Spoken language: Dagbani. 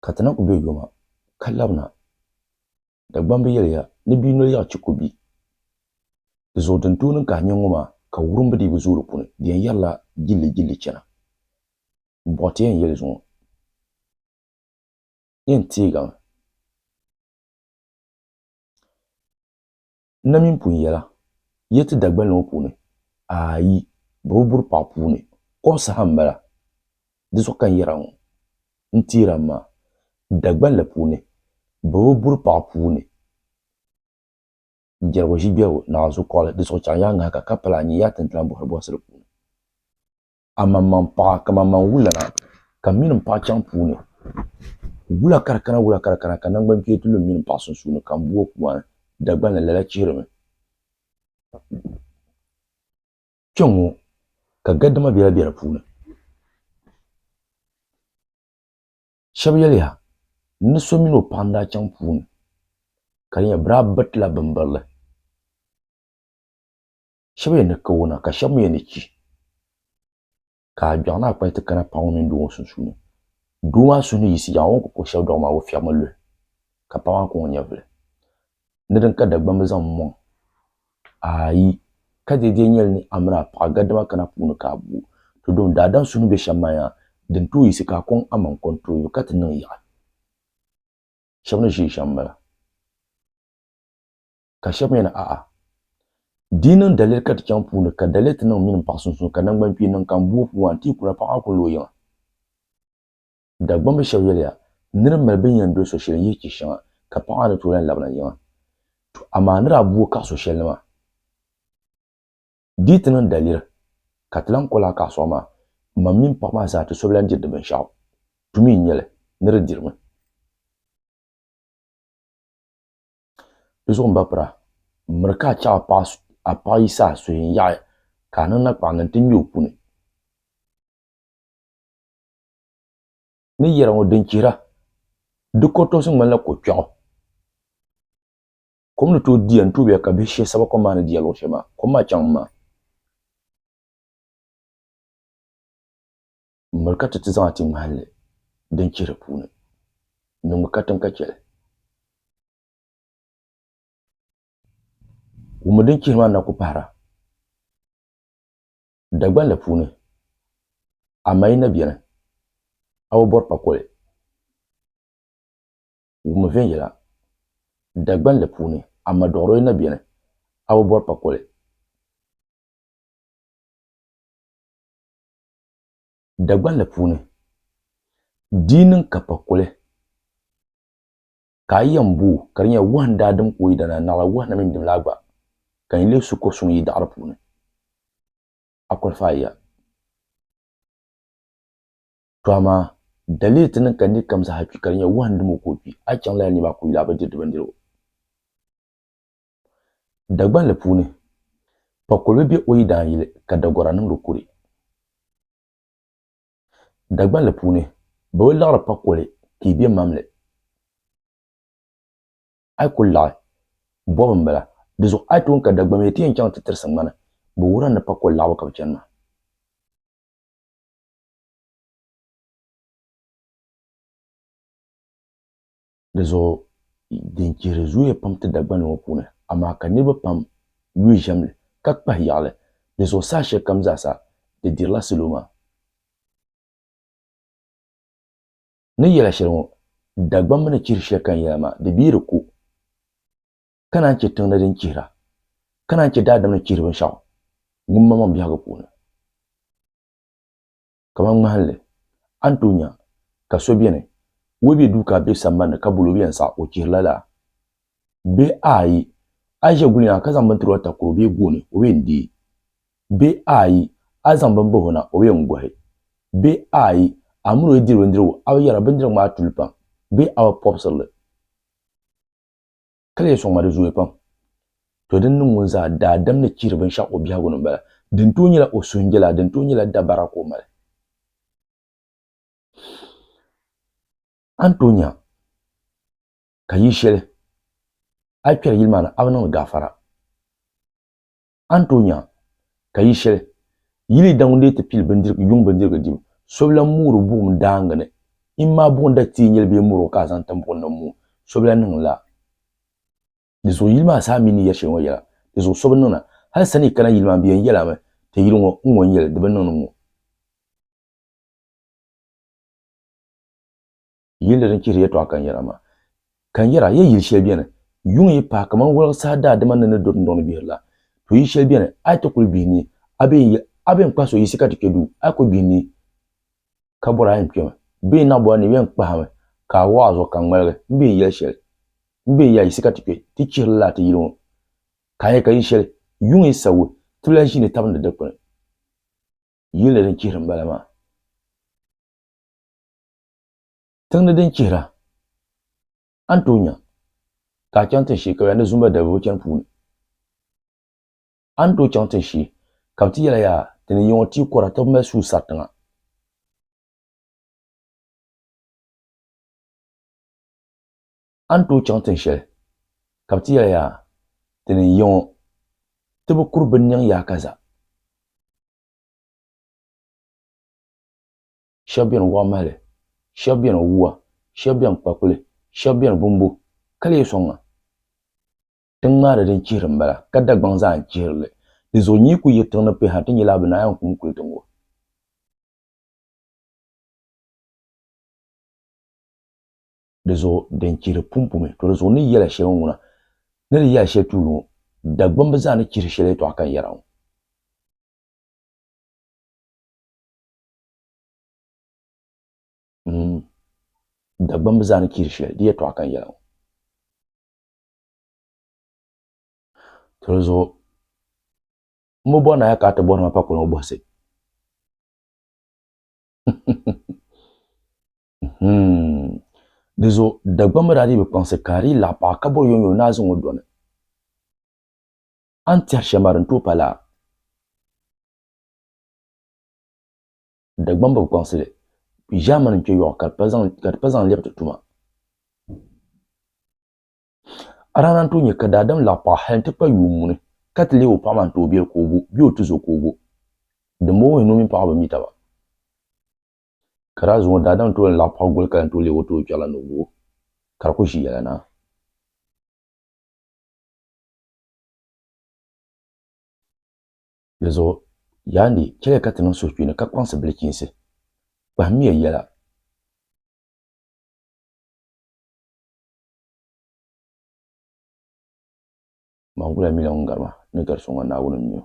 Ka ti na ku be yoma, ka labina, Dagbam bi yɛliya ni bia noli yaɣi chiko bia. Di zuɣu din tooi niŋ ka a nya ŋɔ maa, ka wurim bi dii bi zooi di puuni, di yɛn yɛrila jillijilli chana. M bɔhi ti yɛn yɛli zuŋɔ, yɛn teegami. N na mini pun yɛla, Yi ti Dagbani ŋɔ puuni? Aayi, bɛ bi buri paɣ puuni. Kom saha m-bala. Di zuɣu ka n yɛra ŋɔ. N teer a maa, Dagbani la puuni bɛ bi buri paɣ puuni. Jɛrigu ʒi gbɛrigu, naɣizuɣukɔɣili, di zuɣu chaŋ yaa ŋahika ka pala a nyini yaa tintilaŋ bɔhiribɔhisi di puuni. amaŋmaŋ paɣa kamamaŋ wulana ka mini m paɣa chaŋ puuni wula ka di kana wula ka di kana ka nangban kpeebu ti lu m mini m paɣa sunsuuni ka m bo o kuani Dagbani ni lala chihirimi kpɛŋŋo ka gadama biɛla be di puuni shɛbi yɛliya ni so mini o paɣa n daa chaŋ puuni ka di nyɛ bɛ daa biritila binbirili shɛba yɛn ni kawo na ka shɛba mi yɛn ni chi ka a gbɛɣu ni a kpali ti kana paɣ ŋɔ mini doo ŋɔ sunsuuni doo maa suhu ni yiɣisi yaŋɔ o ni kuli kpuɣi shɛlidɔɣu maa o fiɛɣimi luhi ka paɣ maa kɔŋ o nyɛvuli ni din ka Dagbamba zaŋ m-mɔŋ ayi ka di lee nyɛli ni a mini a paɣa gadama kana puuni ka a bo o dɔn daadam suhu ni be shɛm maa yaha din tooi yiɣisi ka a kɔŋ amaŋ kɔntooyuli ka ti niŋ yaɣi shɛba ni ʒiya shɛm m-bala Ka shɛb mi ni, A'a! Di yi niŋ daliri ka ti chaŋ puuni, ka daliri ti niŋ mini m paɣ sunsuuni, ka naŋgbankpeeni niŋ ka m bo o puu maa, n ti yi kuna paɣ maa kul lo o yiŋa. Dagbamb shɛb yɛliya, Nir mali bɛn yɛn doli so shɛli n-yihi chɛ shɛŋa, ka paɣ maa ni tooi lan labina yiŋa. Tɔ! Amaa a ni daa bo o kaɣ so shɛli ni maa? Di yi ti niŋ daliri ka ti lan kol a kaɣ sɔŋ maa, mam mini paɣ maa zaa ti so bi lan diri di binshɛɣu. Tu mi n-nyɛ li, ni di dirimi. Di zuɣu n ba pira, m miri ka a chɛ a paɣ yi saha suhi n-yaɣi ka a niŋ nakpaɣ ni nti nya o puni ni yɛra ŋɔ din chihira di kɔrtɔɣisi ŋmanila ko kpɛɣu. Kom ni tooi diya n-tooi bɛya ka bihi shee saba kom maa ni diya luɣ shɛli maa. Kom maa chaŋ m-ma. M miri ka ti ti zaŋ a ti ŋmahinli din chihiri puuni, ni ŋ mi katiŋ ka chɛ li. Ŋun mi din chihiri maa na ku pahira Dagbani la puuni, amaa yi na beni, a bi bɔri pa koli. Ŋun mi viɛnyɛla Dagbani la puuni, amaa dɔɣiro yi na beni, a bi bɔri pa koli. Dagbanli puuni, di yi niŋ ka pa kuli ka a yi yɛn booi ka di nyɛla wahu n daa dim ka o yi dana, naɣila wahu na mini dimlaa gba ka n yi leei su kɔr suŋ yi daɣiri puuni, a kɔlifaai ya. Tɔ amaa daliri ti niŋ ka nir kam zaa kpi ka di nyɛla wahu n dim o ka o kpi, a yi chaŋ lala ni maa ka o yuli a bi diri di bindirigu. Dagbanli puuni, Pakolibi be o yidaan yili ka Dagora niŋdi o kuri. Dagbanli puuni, Bɛ bi laɣiri Pakoli ka yi be mamli. A yi kul laɣi, bɔbu m-bala. Di zuɣu a yi tooi ka Dagbamia ti yɛn chaŋ ti tirisi ŋmani bɛ wuhiri a ni Pakoli laɣibu ka bɛ chani maa. Di zuɣu din chihiri zooya pam ti Dagbani ŋɔ puuni, amaa ka niriba pam yuui ʒiɛm li ka kpahi yaɣili. Di zuɣu saha shɛli kam zaa sa di dirila salo maa. Ni yɛla shɛli ŋɔ, Dagbani mi ni chihiri shɛli kani yɛla maa, di bi yi di ko, ka naan chɛ tiŋ ni din chihira, ka naan chɛ daadam ni chihiri binshɛɣu ŋun maŋmaŋ biɛhigu puuni. kamani ŋmahinli, a ni tooi nya ka so beni o yi be duu ka a be sambani ka bol o yɛn saɣi o chihiri la laa bee aai a yi ʒe guli na ka zaŋ bini tiri o a takoro bee gooni o yɛn deei bee aai a yi zaŋ bini bahi o na o yɛn gohi bee aai a mini o yi diri bindirigu a bi yɛra bindirigu maa tuli pam bee a bi pɔbisiri li. Ka di yi sɔŋ ma di zooya pam. To din niŋ ŋun zaa daadam ni chihiri binshɛɣu o biɛhigu ni m-bala. Din tooi nyɛla o suhunjɛlaa, din tooi nyɛla dabara ka o mali. A ni tooi nya ka yi shɛli a yi kpɛri yili maa ni a bi niŋdi gaafara. A ni tooi nya ka yi shɛli yi li daŋ n-deei ti pili bindirigu, yuŋ bindirigu dibu. So bi lan moori buɣim daaŋa ni in maa buɣim da teei nyɛli bee mɔro ka a zaŋ tim buɣim ni n moo, so bi lan niŋ lala. Di zuɣu yili maa saha mi ni yɛri shɛli ŋɔ yɛla, di zuɣu so bi niŋ na. Hal sani yi kana yili maa ni bɛ yɛn yɛli a mi, Ti yili ŋɔ, n ŋɔ n-nyɛ li, di bi niŋ ni n ŋɔ. yilli din chihiri yɛtɔɣa kanyɛra maa. Kanyɛra, ya yili shɛli beni, yuŋ yi paai kaman wɔligu saha daadima ni ni do dundoŋ ni gbihiri la. To yili shɛli beni, a yi ti kuli gbihi nii, a bee n-yɛli, A bee n-kpahi so yiɣisi ka ti kpe duu, a yi kuli gbihi nii, ka bɔri a yɛn kpemi, bee n-naɣ bɔri ni o yɛn kpahimi, ka a wɔɣ a zuɣu ka ŋmaligi, m bee n-yɛli shɛli, M bee ya yiɣisi ka ti kpe, ti chihiri lala ti yili ŋɔ. Ka a nya ka yili shɛli, yuŋ yi sabigi, ti bi lahi ʒi ni tabindi dikpini. Yilli din chihiri m-bala maa. Tiŋ ni din chihira, a ni tooi nya ka a chaŋ tin shee ka yaa ni Zumba dalibo chani puuni. A ni tooi chaŋ tin shee ka bɛ ti yɛla yaa ti ni yiŋɔ tia kɔra ti bi mali suhu sari tiŋa. A ni tooi chaŋ tin shɛli ka bɛ ti yɛla yaa ti ni yiŋɔ ti bi kuri binniŋ yaakaza. shɛb beni wɔɣ mahili, shɛb beni wua, shɛb beni kpakuli, shɛb beni bumbu, ka lee sɔŋ a. Ti ŋmaari din chihiri m-bala, ka Dagbaŋ zaa n-chihiri li. Di zuɣu nyi ku yiri tiŋ ni pɛ ha ti nyɛla a bi naai a kum kuli tiŋ o. Di zuɣu din chihiri pumpumi, to di zuɣu ni yɛla shɛli ŋuna, ni di yɛla shɛli tuuli ŋɔ, Dagbamba zaa ni chihiri shɛli yɛtɔɣa ka n yɛra ŋɔ. Dagbamba zaa ni chihiri shɛli di yɛtɔɣa ka n yɛli ŋɔ. Tilizuɣu m bi bɔri ni a ya ka a ti bɔri ma pa kuli ŋɔ bɔhisi. Di zuɣu Dagbamba daa dii bi kpaŋsi ka di yi laɣ paɣa ka bɔri yomyom ni a zaŋ o dɔni. A ni tɛhiri shɛm maa di ni tooi pa laa? Dagbamba bi kpaŋsi li ʒaamani n kpe yɔɣu ka di pa zaŋ lɛbi ti tuma. A daa na n-tooi nya ka daadam laɣi paɣa hal nti kpa yuun muni ka ti leei o paɣa maa n-ti o biɛli ka o gu bee o tizo ka o gu. Dimbɔŋɔ wuhi ni o mini paɣa bi mi taba. Ka daa zuŋɔ daadam n-tooi lan laɣi paɣa goli ka lan tooi leei o ti o kpɛɣu la ni o gu o ka di ku ʒi yɛla na. Di zuɣu, yaa ni, chɛliya ka ti niŋ suhukpeeni ka kpaŋsi bilichiinsi. Kpahimiya yɛla. Mangula mi la ŋun gari ma, ni gari so ŋɔ, Naawuni m-mi o.